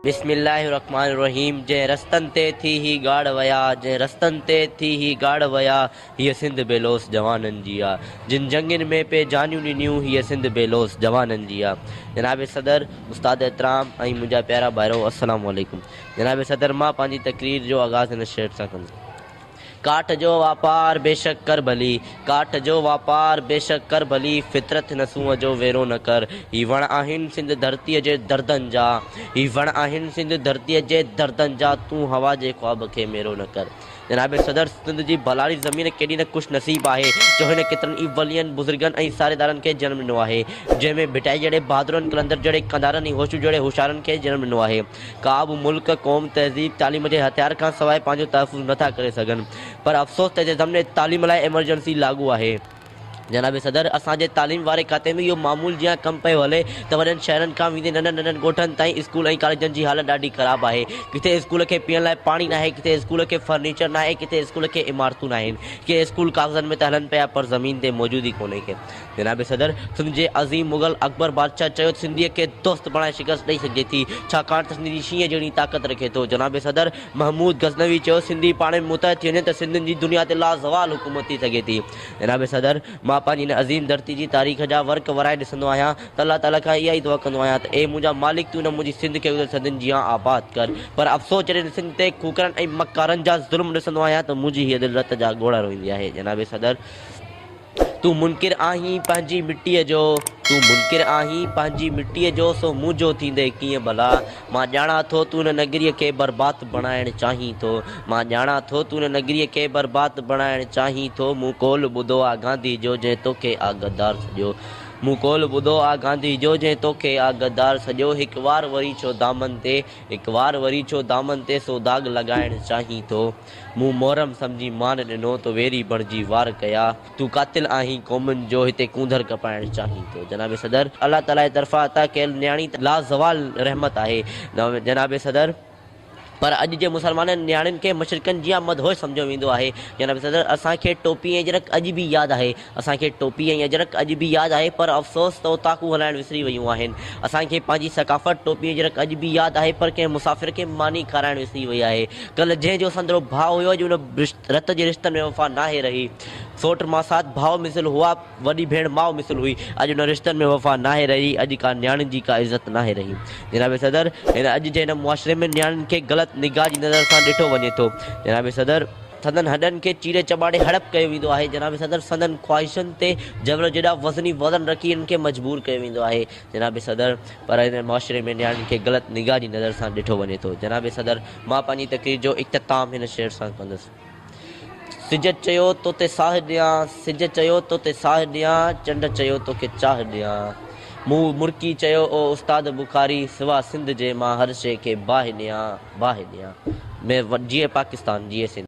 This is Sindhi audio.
بسم الله الرحمٰن الرحيم جنهن رستن تي ٿي هي ڳاڙهه ويا جنهن رستن تي ٿي هي ڳاڙهه ويا هيء سنڌ بي لوث جوانن جي آ جن جنگين ۾ پئي جانيون ڏنيون هيء سنڌ بي لوث جوانن جي آ جناب صدر استاد احترام ۽ منهنجا پيارا ڀائرو السلام عليڪم جناب صدر مان پنهنجي تقرير جو آغاز هن شعر سان ڪندس. ڪاٺ جو واپار بيشڪ ڪر ڀلي، ڪاٺ جو واپار بيشڪ ڪر ڀلي، فطرت هن سونهن جو ويرو نه ڪر، هي وڻ آهن سنڌ ڌرتيء جي دردن جا، هي وڻ آهن سنڌ ڌرتيء جي دردن جا، تون هوا جي خواب کي ميرو نه ڪر. جناب صدر سنڌ جي ڀلاري زمين ڪيڏي نه خوش نصيب آهي جو هن ڪيترن ئي ولين، بزرگن ۽ ساريدارن کي جنم ڏنو آهي، جنهن ۾ ڀٽائي جهڙي بهادرن، قلندر جهڙي قنڌارن ۽ هوشو جهڙي هوشيارن کي جنم ڏنو آهي. ڪا به ملڪ، قوم، تهذيب، تعليم جي هٿيار کان سواء پنهنجو تحفظ نه ٿا ڪري سگهن پر افسوس ته ضمن تعليم لاء ايمرجنسي لاڳو آهي. جناب صدر، اسان جي تعليم واري کاتي ۾ اهو معمول جيان ڪم پيو هلي ته وڏن شهرن کان ويندي ننڍن ننڍن ڳوٺن تائين اسڪول ۽ ڪاليجن جي حالت ڏاڍي خراب آهي. ڪٿي اسڪول کي پيئڻ لاء پاڻي ناهي، ڪٿي اسڪول کي فرنيچر ناهي، ڪٿي اسڪول کي عمارتون ناهن. ڪي اسڪول ڪاغذن ۾ ته هلن پيا پر زمين تي موجود ئي ڪونهي. جناب صدر، سنڌ جي عظيم مغل اڪبر بادشاهه چيو ته سنڌيء کي دوست بڻائي شڪست ڏئي سگهجي ٿي، ڇاڪاڻ ته سنڌي شينهن جهڙي طاقت رکي ٿو. جناب صدر محمود غزنوي چيو سنڌي پاڻ ۾ متحد ٿي وڃن ته سنڌين جي دنيا تي لازوال حڪومت ٿي سگهي ٿي. جناب صدر، مان پنهنجي هن عظيم ڌرتي جي تاريخ جا ورق ورائي ڏسندو آهيان ته الله تعاليٰ کان اها ئي دعا ڪندو آهيان ته اي منهنجا مالڪ تون نه منهنجي سنڌ کي گذريل صدين جيان آباد ڪر پر افسوس جڏهن هن سنڌ تي کوکرن ۽ مڪارن جا ظلم ڏسندو آهيان ته منهنجي هيء دل رت جا ڳوڙها روئيندي آهي. جناب صدر! تون منڪر آهين پنهنجي مٽيء جو، تون منڪر آهين پنهنجي مٽيء جو، سو مون جو ٿيندي ڪيئن ڀلا؟ مان ڄاڻان ٿو تون ان نگريء کي برباد بڻائڻ چاهين ٿو، مان ڄاڻان ٿو تون ان نگريء کي برباد بڻائڻ چاهين ٿو، مون قول ٻڌو آ گانڌي جو جنهن توکي آ غدار سڏيو، مون قول ٻڌو آ گانڌي جو جنهن توکي آ غدار سڏيو، هڪ وار وري ڇو دامن تي، هڪ وار وري ڇو دامن تي سو داغ لڳائڻ چاهين ٿو؟ مون محرم سمجهي مان ڏنو تو ويري بڻجي وار ڪيا تون قاتل آهين قومن جو هتي ڪونڌر ڪپائڻ چاهين ٿو جناب صدر الله تعالي جي طرفان عطا ڪيل نياڻي ته لازوال رحمت آهي جناب صدر پر اڄ جي مسلمانن نياڻين کي مشرڪن جيان مدهوش سمجهيو ويندو آهي جناب صدر اسان کي ٽوپي ۽ جرڪ اڄ به ياد آهي اسان کي ٽوپي ۽ اجرڪ اڄ به ياد آهي پر افسوس ته اوطاقون هلائڻ وسري ويون آهن. اسان کي پنهنجي ثقافت ٽوپي اجرڪ اڄ به ياد آهي پر ڪنهن مسافر کي ماني کارائڻ وسري وئي آهي. ڪلهه جنهن جو سندرو ڀاء هيو اڄ ان رت جي رشتن ۾ وفا ناهي رهي. سوٽ ماسات ڀاء مثل هئا، وڏي ڀيڻ ماء مثل هئي. اڄ انهن رشتن ۾ وفا ناهي رهي، اڄ ڪا نياڻين جي ڪا عزت ناهي رهي. جناب صدر! هن اڄ جي هن معاشري ۾ نياڻين کي غلط نگاهه جي نظر سان ڏٺو وڃي ٿو. جناب صدر! سندن هڏن کي چيري چٻاڙي هڙپ ڪيو ويندو آهي. جناب صدر سندن خواهشن تي جبل جيڏا وزني وزن رکي انهن کي مجبور ڪيو ويندو آهي. جناب صدر پر هن معاشري ۾ نياڻين کي غلط نگاهه جي نظر سان ڏٺو وڃي ٿو. جناب صدر مان پنهنجي تقرير جو اختتام هن شعر سان ڪندس. سج چيو توتي ساهه ڏيان، سج چيو توتي ساهه ڏيان، چنڊ چيو توکي چاهه ڏيان، مون مرڪي چيو او استاد بخاري، سوا سنڌ جي مان هر شيء کي باهه ڏيان. باهه ڏيان ۾ وٽ جيئي پاڪستان جيئي سنڌ.